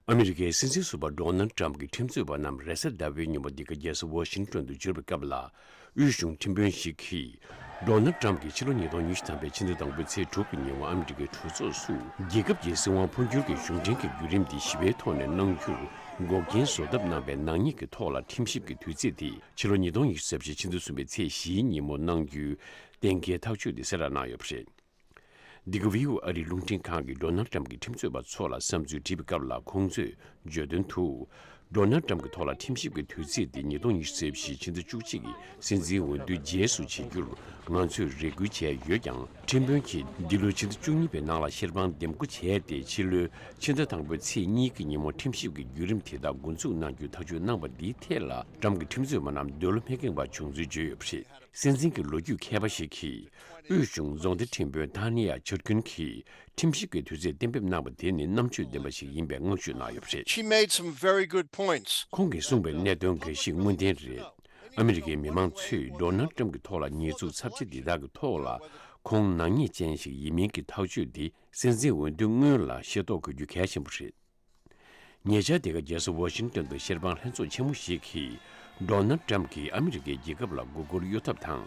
ཨ་མི་རི་ཀའི་སྲིད་འཛིན་ཟུར་པ Donald Trump ཀྱི་ཁྲིམས་རྩོད་པ་རྣམས་རེས་གཟའ་ཟླ་བའི་ཉིན་པ་འདི་ག་རྒྱལ་ས Washington དུ་འབྱོར་བའི་སྐབས་ལ། དབུས་གཞུང་ཁྲིམས་དཔོན་ཞིག་གིས། Donald Trump ཀྱིས་ཕྱི་ལོ་ཉིས་སྟོང་ཉི་ཤུ་དང་པའི་ཕྱི་ཟླ་དང་པོའི་ཚེས་དྲུག་གི་ཉིན་བར་ཨ་མི་རི་ཀའི་གྲོས་ཚོགས་སུ་རྒྱལ་ཁབ་ཀྱི་སྲིད་དབང་འཕོ་འགྱུར་གྱི་གཞུང་འབྲེལ་གྱི་བརྒྱུད་རིམ་འདི་ཞི་བའི་ཐོག་ནས་གནང་རྒྱུར་འགོག་རྐྱེན་བཟོ་ཐབས་གནང་བའི་ནག་ཉེས་ཀྱི་ཐོག་ལ་ཁྲིམས་ཞིབ་ཀྱི་དུས་ཚེས་དེ་ཕྱི་ལོ་ཉིས་སྟོང་ཉི་ཤུ་རྩ་བཞི་ཕྱི་ཟླ་གསུམ་པའི་ཚེས་བཞིའི་ཉིན་མོ་གནང་རྒྱུའི་གཏན་འཁེལ་ཐག་གཅོད་དེ་གསལ་བསྒྲགས་གནང་ཡོད་པ་རེད། འདི་ག་བྷི་བོ་ཨ་རིའི་རླུང་འཕྲིན་ཁང་གིས་སྒྲོ་ནལ་ཀྲམ་གྱི་ཁྲིམས་རྩོད་པ་ཚོ་ལ་བསམ་ཚུལ་དྲིས་པའི་སྐབས་ལ་ཁོང་ཚོས་བརྗོད་དོན་དུ། སྒྲོ་ནལ་ཀྲམ་གྱི་ཐོག་ལ་ཁྲིམས་ཞིབ་ཀྱི་དུས་ཚིགས་དེ་ཉིས་སྟོང་ཉི་ཤུ་ཚེས་བཞི་ཕྱི་ཟླ་བཅུ་གཅིག་གི་སྲིད་འཛིན་འོས་བསྡུའི་རྗེས་སུ་བྱེད་རྒྱུར་ང་ཚོས་རེ་སྐུལ་བྱས་ཡོད་ཀྱང་ཁྲིམས་དཔོན་གྱིས་འདི་ལོའི་ཕྱི་ཟླ་བཅུ་གཉིས་པའི་ནང་ལ་ཤེར་དཔང་འདེམས་བསྐོ་བྱས་ཏེ་ཕྱི་ལོའི་ཕྱི་ཟླ་དང་པོའི་ཚེས་གཉིས་ཀྱི་ཉིན་མོར་ཁྲིམས་ཞིབ་ཀྱི་བརྒྱུད་རིམ་དེ་དག་མགོ་འཛུགས་གནང་རྒྱུའི་ཐག་གཅོད་གནང་བ་འདིའི་ཐད་ལ་ཀྲམ་གྱི་ཁྲིམས་རྩོད་པ་རྣམས་འདོད་བློ་མི་ཁེངས་པ་བྱུང་ཚུལ་བརྗོད་ཡོད་པ་རེད། སྲིད་འཛིན་གྱི་ལོ་རྒྱུས་མཁས་པ་ཞིག་གིས་དབུས་གཞུང་རྫོང་སྡེ་ཁྲིམས་བོད་ཐང་ནེ་ཡཱ་ཆོས་སྒྲོན་གྱིས་ཁྲིམས་ཞིབ་ཀྱི་དུས་ཚོད་གཏན་འབེབས་གནང་བ་དེ་ནི་རྣམ་དཔྱོད་ལྡན་པ་ཞིག་ཡིན་པའི་བསྔགས་བརྗོད་གནང་ཡོད་པ་རེད། She made some very good points. ཁོང་གིས་གསུངས་པའི་གནད་དོན་འགའ་ཞིག་དངོས་བདེན་རེད། ཨ་མི་རི་ཀའི་མི་མང་ཚོས Donald Trump གྱི་ཐོག་ལ་ཉེས་འཛུགས་ཚབས་ཆེ་འདི་དག་གི་ཐོག་ལ་ཁོང་ནག་ཉེས་ཅན་ཞིག་ཡིན་མིན་གྱི་ཐག་གཅོད་དེ་སྲིད་འཛིན་འོས་བསྡུ་སྔོན་ལ་ཤེས་རྟོགས་དགོས་རྒྱུ་གལ་ཆེན་པོ་རེད། ཉེ་ཆར་འདི་ག་རྒྱལ་ས་ཝོ་ཤིང་ཏོན་དུ་བཤེར་དཔང་ལྷན་ཚོགས་ཆེན་མོ་ཞིག་གིས Donald Trump གིས་ཨ་མི་རི་ཀའི་རྒྱལ་ཁབ་ལ་མགོ་སྒུར་གཡོ་ཐབས་དང་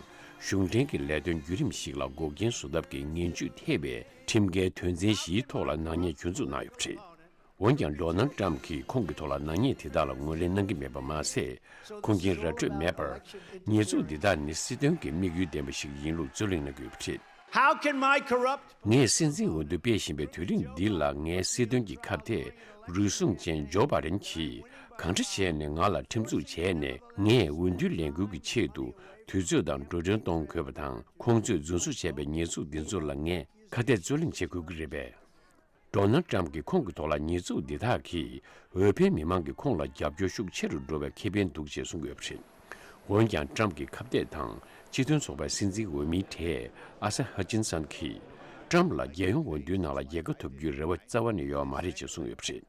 གཞུང་འབྲེལ་གྱི་ལས་དོན་བརྒྱུད་རིམ་ཞིག་ལ་འགོག་རྐྱེན་བཟོ་ཐབས་ཀྱི་ངན་ཇུས་ཐེབས་པའི་ཁྲིམས་འགལ་དོན་ཚན་བཞིའི་ཐོག་ལ་ནག་ཉེས་གྱོད་འཛུགས་གནང་ཡོད་པ་རེད། འོན་ཀྱང Donald Trump གིས་ཁོང་གི་ཐོག་ལ་ནག་ཉེས་དེ་དག་ལ་ངོས་ལེན་གནང་གི་མེད་པ་མ་ཟད་ཁུངས་སྐྱེལ་ར་སྤྲོད་མེད་པར། ཉེས་འཛུགས་འདི་དག་ནི་སྲིད་དོན་གྱི་དམིགས་ཡུལ་ལྡན་པ་ཞིག་ཡིན་ལུགས་རྩོད་གླེང་གནང་གི་ཡོད་པ་རེད། ངས་སྲིད་འཛིན་འོས་བསྡུ་སྤེལ་བཞིན་པའི་དུས་རིང་འདི་ལ་ངའི་སྲིད་དོན་གྱི་ཁབ་དེ་རུལ་སུངས་ཅན་ཇོ་པ་རན་གྱིས་གང་འདྲ་བྱས་ནས་ང་ལ་ཁྲིམས་འཛུགས་བྱས་ནས་ངས་འོས་བསྡུའི་ལས་འགུལ་གྱི་ཆེད་དུ་དུས་ཚོད་དང་འགྲོ་གྲོན་གཏོང་དགོས་པ་དང་ཁོང་ཚོས་རྫུན་བཟོ་བྱས་པའི་ཉེས་འཛུགས་འདི་ཚོ་ལ་ངས་ཁ་གཏད་རྩོད་གླེང་བྱེད་དགོས་ཀྱི་རེད་པས། མདོར་ན་ཀྲམ་གྱི་ཁོང་གི་ཐོག་ལ་ཉེས་འཛུགས་འདི་དག་གིས་འོས་འཕེན་མི་མང་གི་ཁོང་ལ་རྒྱབ་སྐྱོར་ཤུགས་ཆེ་རུ་འགྲོ་བའི་ཁེ་ཕན་འདུག་ཅེས་གསུངས་ཡོད་པ་རེད། འོན་ཀྱང་ཀྲམ་གྱི་ཁ་བརྡས་དང་སྤྱི་མཐུན་ཚོགས་པའི་སྲིད་འཛིན་འོས་མི་གྲས་ཨ་སེ་ཧ་ཅིན་སན་གྱིས་ཀྲམ་ལ་རྒྱལ་ཡོངས་འོས་བསྡུའི་ནང་ལ་རྒྱལ་ཁ་ཐོབ་རྒྱུའི་རེ་བ་རྩ་བ་ནས་ཡོད་མ་རེད་ཅེས་གསུངས་ཡོད་པ་རེད།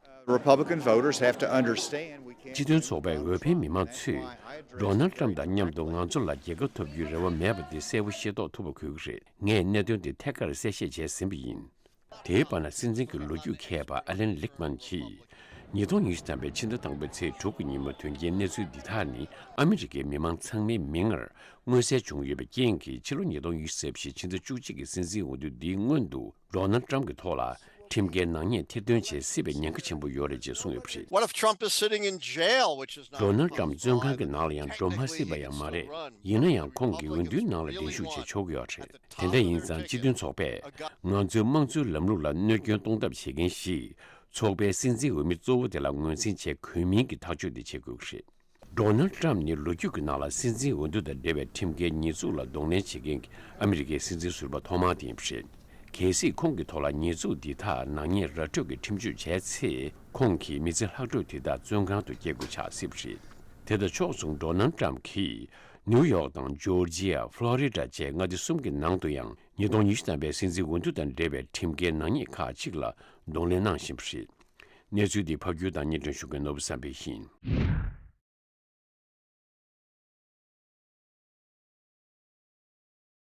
སྤྱི་མཐུན་ཚོགས་པའི་འོས་འཕེན་མི་མང་ཚོས་མདོར་ན་ཀྲམ་དང་མཉམ་དུ་ང་ཚོ་ལ་རྒྱལ་ཁ་ཐོབ་རྒྱུའི་རེ་བ་མེད་པ་འདི་གསལ་བོ་ཤེས་རྟོགས་ཐུབ་པ་དགོས་ཀྱི་རེད། ངས་གནད་དོན་འདི་ཐད་ཀར་གསལ་བཤད་བྱས་ཟིན་པ་ཡིན། དེའི་བར་ན་སྲིད་འཛིན་གྱི་ལོ་རྒྱུས་མཁས་པ་ཨ་ལན་ལིག་མན་གྱིས། ཉིས་སྟོང་ཉེར་བཞི་ཐམ་པའི་ཕྱི་ཟླ་དང་པོའི་ཚེས་དྲུག་གི་ཉིན་མོ་དོན་རྐྱེན་གནས་ཚུལ་འདི་དག་ནི་ཨ་མི་རི་ཀའི་མི་མང་ཚང་མའི་མིག་སྔར་མངོན་གསལ་བྱུང་ཡོད་པའི་རྐྱེན་གྱིས་ཕྱི་ལོ་ཉིས་སྟོང་ཡིས་ཟེར་བཞིན་ཕྱི་ཟླ་བཅུ་གཅིག་གི་སྲིད་འཛིན་འོས་བསྡུ་འདིའི་སྔོན་དུ Donald Trump གྱི་ཐོག་ལ་ཁྲིམས་འགལ་ནག་ཉེས་ཐེར་འདོན་བྱེད་སྲིད་པའི་ཉེན་ཁ་ཆེན་པོ་ཡོད་རེད་ཅེས་གསུངས་ཡོད་པ་རེད། Donald Trump བཙོན་ཁང་གི་ནང་ལ་ཡང་འགྲོ་མ་སྲིད་པ་ཡང་མ་རེད། ཡིན་ན་ཡང་ཁོང་གིས་འོས་བསྡུའི་ནང་ལ་འགྲན་ཞུགས་བྱེད་ཆོག་གི་ཡོད་རེད། དེ་འདྲ་ཡིན་ཙང་སྤྱི་མཐུན་ཚོགས་པས་ང་ཚོའི་དམངས་གཙོའི་ལམ་ལུགས་ལ་གནོད་སྐྱོན་གཏོང་ཐབས་བྱེད་མཁན་ཞིག་ཚོགས་པའི་སྲིད་འཛིན་འོས་མི་གཙོ་བོ་དེ་ལ་ངོས་འཛིན་བྱེད་གོས་མིན་གྱི་ཐག་གཅོད་དེ་བྱེད་དགོས་ཀྱི་རེད། Donald Trump ནི་ལོ་རྒྱུས་ཀྱི་ནང་ལ་སྲིད་འཛིན་འོས་བསྡུ་དང་འབྲེལ་བའི་ཁྲིམས་འགལ་ཉེས་འཛུགས་ལ་གདོང་ལེན་བྱེད་མཁན་གྱི་ཨ་མི་རི་ཀའི་སྲིད་འཛིན་ཟུར་པ་ཐོག་མ་དེ་ཡིན་པ་རེད། གལ་སྲིད་ཁོང་གི་ཐོག་ལ་ཉེས་འཛུགས་འདི་དག་ནག་ཉེས་ར་འཕྲོད་ཀྱི་ཁྲིམས་གཅོད་བྱས་ཚེ་ཁོང་གིས་མི་ཚེ་ལྷག་འཕྲོ་དེ་དག་བཙོན་ཁང་དུ་སྐྱེལ་དགོས་ཆགས་སྲིད་པ་རེད། དེ་དང་ཕྱོགས་མཚུངས Donald Trump གིས་ནེའུ་ཡོག་དང་ཇོ་ཇི་ཡ། Florida། བཅས་མངའ་སྡེ་གསུམ་གྱི་ནང་དུ་ཡང་ཉིས་སྟོང་ཉི་ཤུ་ཐམ་པའི་སྲིད་འཛིན་འོས་བསྡུ་དང་འབྲེལ་བའི་ཁྲིམས་འགལ་ནག་ཉེས་ཁག་གཅིག་ལ་གདོང་ལེན་གནང་བཞིན་པ་རེད། གནས་ཚུལ་འདི་ཕ་རྒྱུད་དང་གཉེན་སྟོན་ཞུ་མཁན་ནོར་བུ་བསམ་འཕེལ་ཡིན།